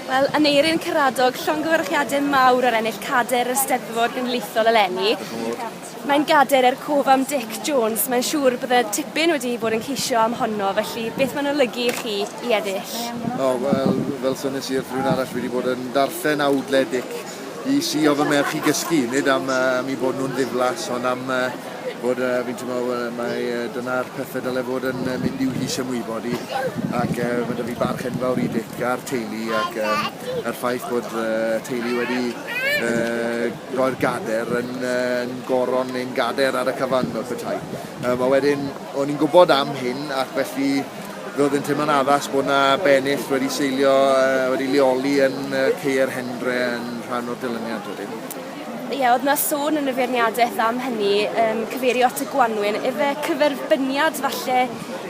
Wel, Aneurin Karadog, llongyfarchiadau mawr ar ennill cader y Steddfod Genedlaethol eleni. Mae'n gader er cof am Dic Jones, mae'n siŵr bod y tipyn wedi bod yn ceisio am honno, felly beth mae'n olygu i chi i eddill? O, wel, fel sonies i wrth rhywun arall, fi wedi bod yn darllen awdle Dic i sïo fy merch i gysgu, nid am uh, i bod nhw'n ddiflas, ond am uh, bod uh, fi'n teimlo uh, mae uh, dyna'r pethau dyle fod yn uh, mynd i'w hys ymwybod i ac uh, mae dy fi barch enfawr i Dic a'r teulu ac um, a'r ffaith bod uh, teulu wedi uh, roi'r gader yn, uh, yn goron neu'n gader ar y cyfan wrth y tai. Um, a wedyn, o'n i'n gwybod am hyn ac felly Roedd yn teimlo'n addas bod yna bennill wedi seilio, uh, wedi leoli yn uh, Ceier Hendre yn rhan o'r dilyniant wedyn. Ie, yeah, oedd yna sôn yn y feirniadaeth am hynny, um, cyfeirio at y gwanwyn. Efe cyferbyniad falle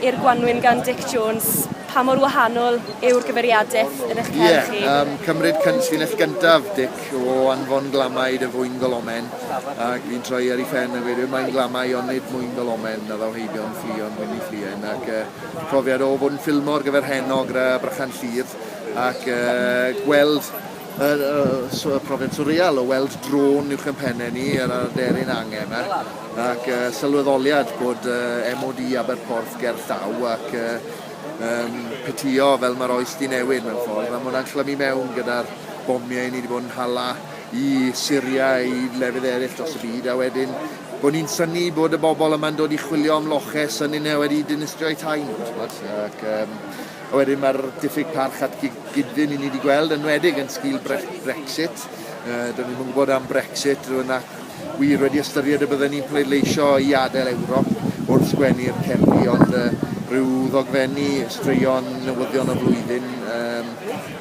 i'r gwanwyn gan Dick Jones pa mor wahanol yw'r gyfeiriadaeth yn eich cerdd yeah, chi? Ie, um, cymryd cynllunell gyntaf, Dic, o anfon glamau dy fwyn golomen, ac fi'n troi ar ei phen a gweud, mae'n glamau ond nid mwyn golomen, a ddaw heibion. Ffion Wyn y Ffluen ac yy profiad o fod yn ffilmo ar gyfer Heno gyda Brychan Llŷr ac yy gweld y y y profiad swreal o weld drôn uwch yn penne ni ar yr aderyn angen yma ac yy sylweddoliad bod yy MOD Aberporth ger llaw ac yy yym petio fel mae'r oes 'di newid mewn ffordd a ma' hwnna'n clymu mewn gyda'r bomiau ni 'di bod yn hala i Syria, i lefydd eraill dros y byd, a wedyn bod ni'n syni bod y bobl yma'n dod i chwilio am loche, syni nhw wedi dinistrio eu tai nhw, tybod? Ac, um, a wedyn mae'r diffyg parch at gyd-fynd i ni wedi gweld, yn wedig yn sgil bre Brexit. Uh, Do'n ni'n gwybod am Brexit, rwy'n ac wir wedi ystyried y byddwn ni'n pleidleisio i adael Ewrop wrth sgwennu'r cerddi, ond uh, rhyw ddogfenni straeon newyddion y flwyddyn um,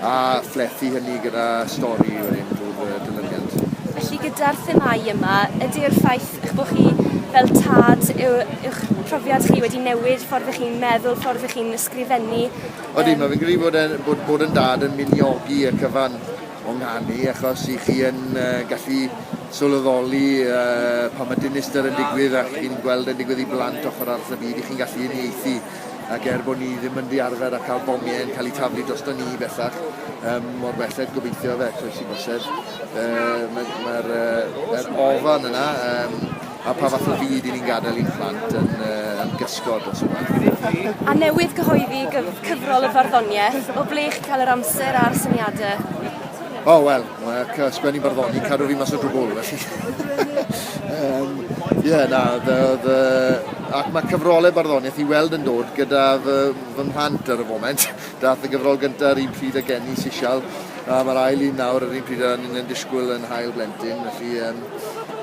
A phlethu hynny gyda stori wedyn drwy'r yy dilyniant. Felly gyda'r themâu yma, ydy'r ffaith eich bod chi fel tad yw yw'ch profiad chi wedi newid, ffordd ych chi'n meddwl, ffordd ych chi'n ysgrifennu? Odi, mae fi'n credu bod e'n bod bod yn dad yn miniogi y cyfan o nghanu achos 'y chi yn yy gallu sylweddoli yy pan mae dinistr yn digwydd a chi'n gweld e'n digwydd i blant ochr arall y byd 'y chi'n gallu uniaethu ac er bod ni ddim yn ddiarfer a cael bomiau yn cael eu taflu drosto ni bellach, um, mor belled gobeithio fe, croes i bosib, uh, mae'r ma uh, er ofan yna, um, a pa fath o fyd i ni'n gadael i'n plant yn, uh, yn gysgod dros y math. A newydd gyhoeddi gyf cyfrol y farddoniaeth, o ble chi'n cael yr amser a'r syniadau? O, oh, wel, Mae ac uh, sgwennu barddoni, cadw fi mas o drwbwl, felly... um, yeah, na, the, the... ac mae cyfrolau barddoniaeth i weld yn dod gyda fy, fy mhlant ar y foment. Dath y gyfrol gyntaf yr un pryd a Genny Sisial, a mae'r ail un nawr yr un pryd a ni'n disgwyl yn hael blentyn, felly... Um,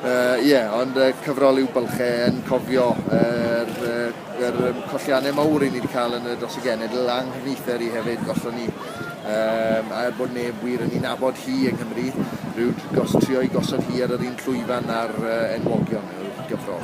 uh, yeah, ond uh, cyfrol yw bylchau yn cofio yr, uh, yr um, colliannau mawr i ni wedi cael yn y dros y genedl a'n nghyfnither i hefyd, gollon ni Yym, a er bod neb wir yn ei nabod hi yng Nghymru, rwy'n gos- trio ei gosod hi ar yr un llwyfan â'r yy enwogion, yw'r gyfrol.